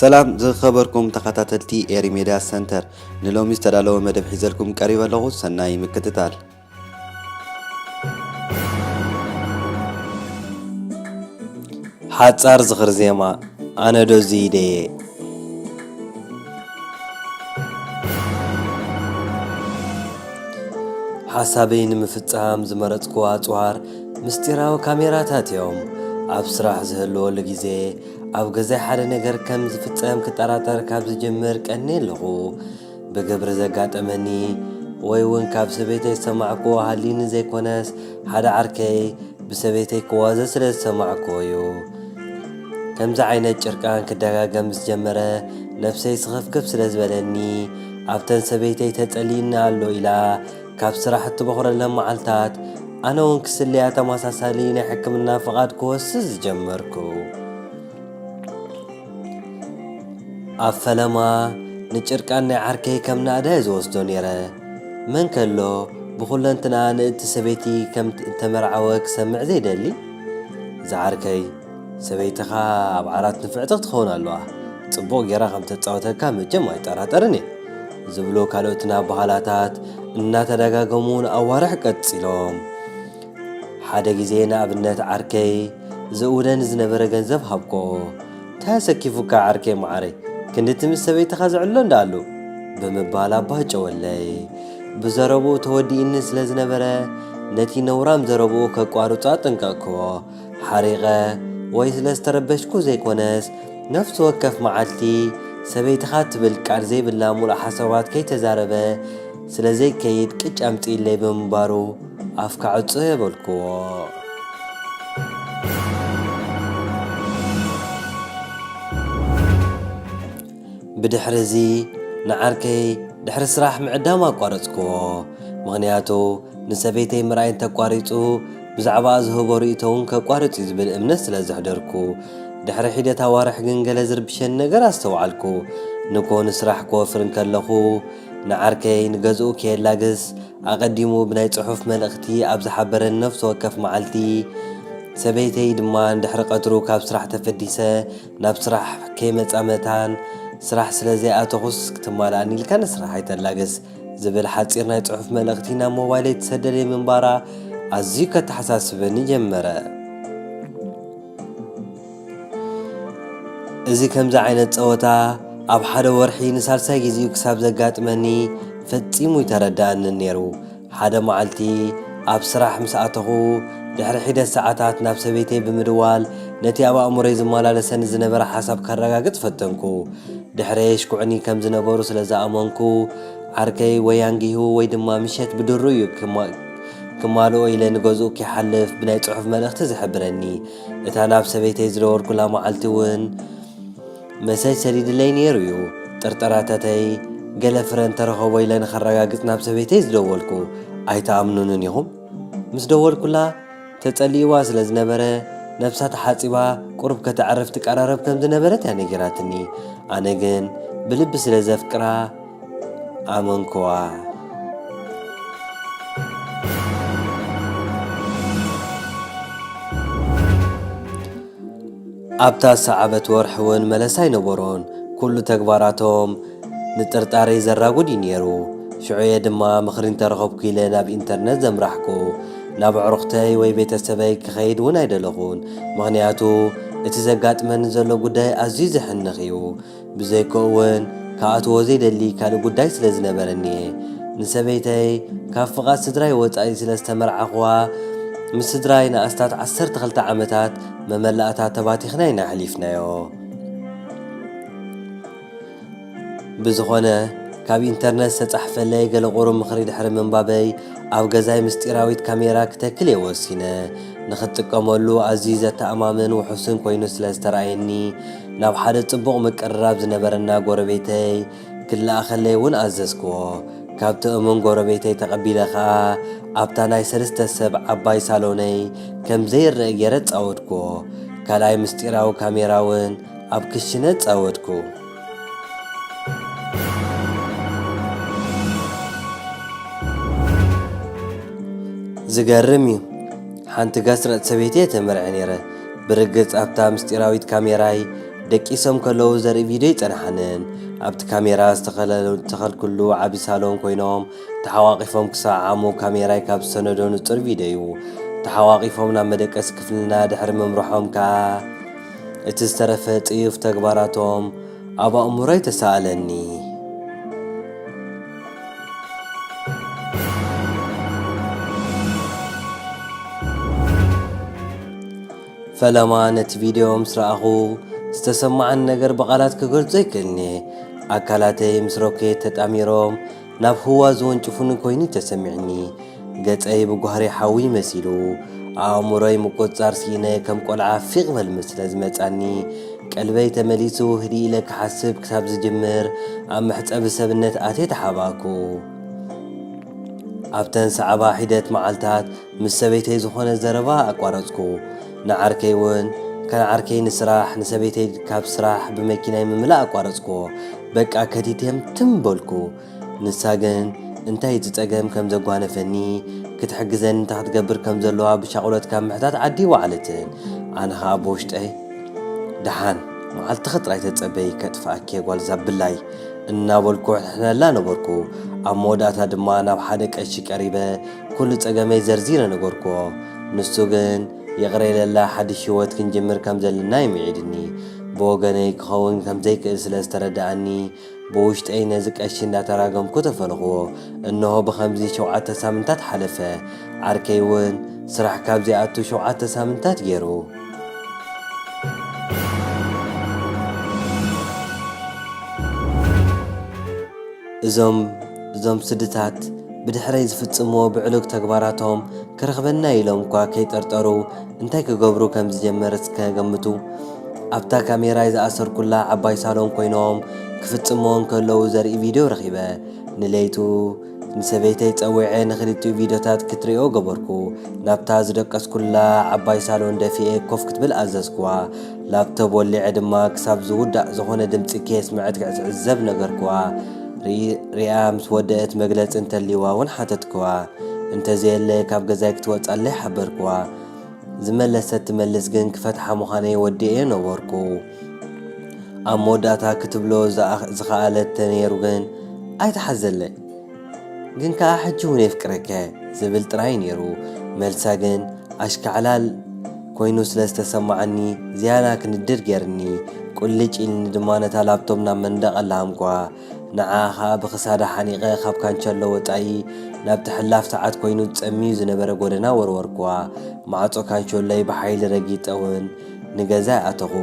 ሰላም ዝኸበርኩም ተኸታተልቲ ኤሪ ሜድያ ሰንተር ንሎሚ ዝተዳለወ መደብ ሒዘልኩም ቀሪበ ኣለኹ ሰናይ ምክትታል ሓጻር ዝኽሪ ዜማ ኣነ ዶ እዙይ ደየ ሓሳበይ ንምፍጻም ዝመረጽኩ ኣጽዋር ምስጢራዊ ካሜራታት እዮም ኣብ ስራሕ ዝህልወሉ ግዜ ኣብ ገዛይ ሓደ ነገር ከም ዝፍጸም ክጠራጠር ካብ ዝጅምር ቀኒ ኣለኹ ብግብሪ ዘጋጠመኒ ወይ እውን ካብ ሰበይተይ ዝሰማዕክዎ ሃልዩኒ ዘይኮነስ ሓደ ዓርከይ ብሰበይተይ ክዋዘ ስለ ዝሰማዕክዎ እዩ። ከምዚ ዓይነት ጭርቃን ክደጋገም ምስ ጀመረ ነፍሰይ ስኽፍክፍ ስለ ዝበለኒ ኣብተን ሰበይተይ ተጸሊእኒ ኣሎ ኢላ ካብ ስራሕ እትበዅረለን መዓልታት ኣነ እውን ክስለያ ተመሳሳሊ ናይ ሕክምና ፍቓድ ክወስድ ዝጀመርኩ። ኣብ ፈለማ ንጭርቃን ናይ ዓርከይ ከም ናእዳ እየ ዝወስዶ ነይረ። መን ከ ኣሎ ብኹለንትናኣ ንእቲ ሰበይቲ ከም እተመርዓወ ክሰምዕ ዘይደሊ? ዝዓርከይ፣ ሰበይትኻ ኣብ ዓራት ንፍዕቲ ክትኸውን ኣለዋ፣ ጽቡቕ ገይራ ከም እተጻውተካ መቸም ኣይጠራጠርን እየ ዝብሉ ካልኦትን ኣበሃህላታት እናተደጋገሙ ንኣዋርሕ ቀጺሎም። ሓደ ግዜ ንኣብነት ዓርከይ ዝእውነኒ ዝነበረ ገንዘብ ሃብክኦ። ታይ ኣሰኪፉካ ዓርከይ መዓረይ ክንዲ እቲ ምስ ሰበይትኻ ዝዕሎ እንዳኣሉ ብምባል ኣባጨወለይ። ብዘረብኡ ተወዲእኒ ስለ ዝነበረ ነቲ ነውራም ዘረብኡ ከቋርጾ ኣጠንቀቕክዎ። ሓሪቐ ወይ ስለ ዝተረበሽኩ ዘይኮነስ ነፍሲ ወከፍ መዓልቲ ሰበይትኻ ትብል ቃል ዘይብላ ምሉእ ሓሳባት ከይተዛረበ ስለ ዘይከይድ ቅጭ ኣምጽእለይ ብምንባሩ ኣፍካ ዕጸዮ በልክዎ። ብድሕር'ዚ ንዓርከይ ድሕሪ ስራሕ ምዕዳም ኣቋረጽክዎ፣ ምኽንያቱ ንሰበይተይ ምርኣይ እንተ ኣቋሪጹ ብዛዕባኣ ዝህቦ ርእይቶ'ውን ከቋርጽ'ዩ ዝብል እምነት ስለ ዘሕደርኩ። ድሕሪ ሒደት ኣዋርሕ ግን ገለ ዝርብሸኒ ነገር ኣስተውዓልኩ። ንግሆ ንስራሕ ክወፍር እንከለኹ ንዓርከይ ንገዝኡ ከየላግስ፣ ኣቐዲሙ ብናይ ጽሑፍ መልእኽቲ ኣብ ዝሓበረኒ ነፍሲ ወከፍ መዓልቲ፣ ሰበይተይ ድማ ድሕሪ ቀትሩ ካብ ስራሕ ተፈዲሰ ናብ ስራሕ ከይመጻ መታን ስራሕ ስለ ዘይኣተኹስ ክትማልኣኒ ኢልካ ንስራሕ ኣይተላግስ ዝብል ሓጺር ናይ ጽሑፍ መልእኽቲ ናብ ሞባይለይ ትሰደለይ ምንባራ ኣዝዩ ከተሓሳስበኒ ጀመረ። እዚ ከምዚ ዓይነት ጸወታ ኣብ ሓደ ወርሒ ንሳልሳይ ግዜኡ ክሳብ ዘጋጥመኒ ፈጺሙ ኣይተረድኣንን ነይሩ። ሓደ መዓልቲ ኣብ ስራሕ ምስ ኣተኹ፣ ድሕሪ ሒደት ሰዓታት ናብ ሰበይተይ ብምድዋል ነቲ ኣብ ኣእምሮይ ዝመላለሰኒ ዝነበረ ሓሳብ ከረጋግጽ ፈተንኩ። ድሕረይ የሽኩዑኒ ከም ዝነበሩ ስለ ዝኣመንኩ፣ ዓርከይ ወይ ኣንጊሁ ወይ ድማ ምሸት ብድሩ'ዩ ክማልኦ ኢለ ንገዝኡ ኪሓልፍ ብናይ ጽሑፍ መልእኽቲ ዝሕብረኒ እታ ናብ ሰበይተይ ዝደወልኩላ መዓልቲ እውን መሰጅ ሰዲድለይ ነይሩ እዩ። ጥርጠራታተይ ገለ ፍረ እንተረኸቦ ኢለ ንኸረጋግጽ ናብ ሰበይተይ ዝደወልኩ። ኣይትኣምኑንን ኢኹም? ምስ ደወልኩላ ተጸሊእዋ ስለ ዝነበረ ነብሳ ተሓጺባ ቁሩብ ከተዕርፍ ትቀራረብ ከም ዝነበረት እያ ነጊራትኒ። ኣነ ግን ብልቢ ስለ ዘፍቅራ ኣመንኩዋ። ኣብታ ዝሰዓበት ወርሒ እውን መለሳ ኣይነበሮን። ኩሉ ተግባራቶም ንጥርጣሬ ዘራጉድ እዩ ነይሩ። ሽዑ እየ ድማ ምኽሪ እንተረኸብኩ ኢለ ናብ ኢንተርነት ዘምራሕኩ። ናብ ኣዕሩኽተይ ወይ ቤተሰበይ ክኸይድ እውን ኣይደለኹን፣ ምኽንያቱ እቲ ዘጋጥመኒ ዘሎ ጉዳይ ኣዝዩ ዘሕንኽ እዩ። ብዘይኮኡውን ክኣትዎ ዘይደሊ ካልእ ጉዳይ ስለ ዝነበረኒ'የ። ንሰበይተይ ካብ ፍቓድ ስድራይ ወጻኢ ስለ ዝተመርዓኹዋ፣ ምስ ስድራይ ንኣስታት ዓሰርተ ክልተ ዓመታት መመላእታ ተባቲኽና ኢና ኣሕሊፍናዮ። ብዝኾነ ካብ ኢንተርነት ዝተጻሕፈለይ ገለ ቁሩብ ምኽሪ ድሕሪ ምንባበይ፣ ኣብ ገዛይ ምስጢራዊት ካሜራ ክተክል'የ ወሲነ። ንኽትጥቀመሉ ኣዝዩ ዘተኣማምን ውሑስን ኮይኑ ስለ ዝተራእየኒ፣ ናብ ሓደ ጽቡቕ ምቅርራብ ዝነበረና ጎረቤተይ ክለኣኸለይ እውን ኣዘዝክዎ። ካብቲ እሙን ጎረቤተይ ተቐቢለ ኸኣ ኣብታ ናይ ሰለስተ ሰብ ዓባይ ሳሎነይ ከም ዘይረእ ገይረ ኣጻወድክዎ። ካልኣይ ምስጢራዊ ካሜራ እውን ኣብ ክሽነ ኣጻወድኩ። ዝገርም እዩ ሓንቲ ጋስ ረጥ ሰበይቲ እየ ተመርዕየ ነይረ። ብርግጽ ኣብታ ምስጢራዊት ካሜራይ ደቂሶም ከለዉ ዘርኢ ቪድዮ ኣይጸንሓንን። ኣብቲ ካሜራ ዝተኸልኩሉ ዓቢ ሳሎን ኮይኖም ተሓቋቚፎም ክሰዓዓሙ ካሜራይ ካብ ዝሰነዶ ንጹር ቪድዮ'ዩ። ተሓቋቒፎም ናብ መደቀሲ ክፍልና ድሕሪ ምምርሖም ከኣ እቲ ዝተረፈ ጽዩፍ ተግባራቶም ኣብ ኣእምሮይ ተሳእለኒ። ፈለማ ነቲ ቪድዮ ምስ ረኣኹ ዝተሰማዓኒ ነገር ብቓላት ክገልጾ ኣይክእልን'የ። ኣካላተይ ምስ ሮኬት ተጣሚሮም ናብ ህዋ ዝወንጭፉኒ ኰይኑ'ዩ ተሰሚዑኒ። ገጸይ ብጓህሪ ሓዊ መሲሉ። ኣእምሮይ ምቁጽጻር ስኢነ ከም ቈልዓ ፊቕ በል ምስለ ዝመጻኒ፣ ቀልበይ ተመሊሱ ህድእ ኢለ ክሓስብ ክሳብ ዝጅምር ኣብ መሕጸቢ ሰብነት ኣትየ ተሓባእኩ። ኣብተን ዝሰዓባ ሒደት መዓልታት ምስ ሰበይተይ ዝኾነ ዘረባ ኣቋረጽኩ። ንዓርከይ ውን ከን ዓርከይ ንስራሕ ንሰበይተይ ካብ ስራሕ ብመኪናይ ምምላእ ኣቋረጽኩዎ። በቃ ከቲቴም ትም በልኩ። ንሳ ግን እንታይ እቲ ጸገም ከም ዘጓነፈኒ ክትሕግዘኒ እንታይ ክትገብር ከም ዘለዋ ብሻቑሎት ካብ ምሕታት ዓዲ ኣይወዓለትን። ኣነ ከኣ ብውሽጠይ ደሓን መዓልትኺ ጥራይ ተጸበዪ ከጥፍኣኪየ ጓልዛ ብላይ እናበልኩ እሕንሕነላ ነበርኩ። ኣብ መወዳእታ ድማ ናብ ሓደ ቀሺ ቀሪበ ኩሉ ጸገመይ ዘርዚረ ነገርኩዎ። ንሱ ግን ይቕረ ኢለላ ሓድሽ ህይወት ክንጅምር ከም ዘለና ይምዒድኒ። ብወገነይ ክኸውን ከም ዘይክእል ስለ ዝተረድኣኒ ብውሽጠይ ነዚ ቀሺ እንዳተራገምኩ ተፈልኹዎ። እንሆ ብኸምዚ ሸውዓተ ሳምንታት ሓለፈ። ዓርከይ እውን ስራሕ ካብ ዘይኣቱ ሸውዓተ ሳምንታት ገይሩ። እዞም እዞም ስድታት ብድሕረይ ዝፍጽምዎ ብዕሉግ ተግባራቶም ክረኽበና'ዩ ኢሎም'ኳ ከይጠርጠሩ እንታይ ክገብሩ ከም ዝጀመረ እስከ ገምቱ። ኣብታ ካሜራይ ዝኣሰርኩላ ዓባይ ሳሎን ኮይኖም ክፍጽምዎ እንከለዉ ዘርኢ ቪድዮ ረኺበ። ንለይቱ ንሰበይተይ ጸዊዐ ንኽልቲኡ ቪድዮታት ክትርእዮ ገበርኩ። ናብታ ዝደቀስኩላ ዓባይ ሳሎን ደፊኤ ኮፍ ክትብል ኣዘዝኩዋ። ላፕቶብ ወሊዐ ድማ ክሳብ ዝውዳእ ዝኾነ ድምጺ ከየስመዐት ክትዕዘብ ነገርኩዋ። ሪኣ ምስ ወደእት መግለጺ እንተልይዋ እውን ሓተትኩዋ። እንተዘየለ ካብ ገዛይ ክትወጽኣለይ ሓበርኩዋ። ዝመለሰት ትመልስ ግን ክፈትሓ ምዃነይ ወዲኤዮ ነበርኩ። ኣብ መወዳእታ ክትብሎ ዝኸኣለት ተነይሩ ግን ኣይተሓዘለይ። ግን ከኣ ሕጂ ውን የፍቅረከ ዝብል ጥራይ ኔሩ መልሳ ግን ኣሽካዕላል ኮይኑ ስለ ዝተሰማዓኒ ዝያዳ ክንድድ ጌርኒ ቁልጭ ኢልኒ ድማ ነታ ላብቶም ናብ መንደቅ ላሃምኩዋ ንዓኣ ከኣ ብክሳዳ ሓኒቀ ካብ ካንቸሎ ወጻኢ ናብቲ ሕላፍ ሰዓት ኮይኑ ጸምዩ ዝነበረ ጎደና ወርወርኩዋ ማዕጾ ካንቸሎይ ብሓይሊ ረጊጸ ውን ንገዛይ ኣተኹ።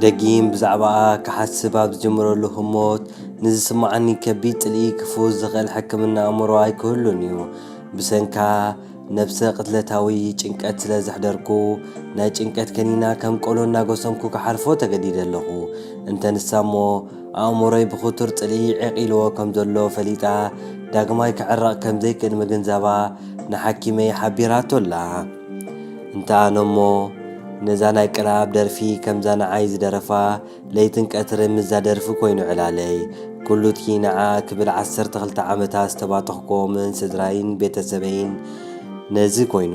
ደጊም ብዛዕባኣ ክሓስብ ኣብ ዝጅምረሉ ህሞት ንዝስምዓኒ ከቢድ ጽልኢ ክፍውስ ዝኽእል ሕክምና ኣእምሮ ኣይክህሉን እዩ። ብሰንካ ነብሰ ቅትለታዊ ጭንቀት ስለ ዘሕደርኩ፣ ናይ ጭንቀት ከኒና ከም ቆሎ እናጎሰምኩ ክሓልፎ ተገዲደ ኣለኹ። እንተ ንሳ'ሞ፣ ኣእምሮይ ብኽቱር ጽልኢ ዒቚሉዎ ከም ዘሎ ፈሊጣ፣ ዳግማይ ክዕረቕ ከም ዘይክእል ምግንዛባ ንሓኪመይ ሓቢራቶ ኣላ። እንተ ኣነ'ሞ ነዛ ናይ ቅልኣብ ደርፊ ከምዛ ንዓይ ዝደረፋ ለይትን ቀትርን ምስዛ ደርፊ ኮይኑ ዕላለይ። ኩሉ'ቲ ንዓኣ ክብል ዓሰርተ ክልተ ዓመታት ዝተባተኽኩዎምን ስድራይን ቤተ ሰበይን ነዚ ኮይኑ።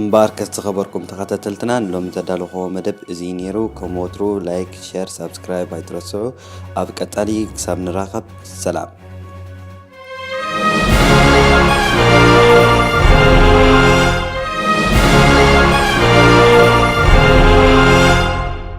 እምበኣርከስ ዝኸበርኩም ተኸታተልትና ንሎሚ ዘዳለኹዎ መደብ እዚ ነይሩ። ከም ወትሩ ላይክ፣ ሸር፣ ሳብስክራይብ ኣይትረስዑ። ኣብ ቀጻሊ ክሳብ ንራኸብ ሰላም።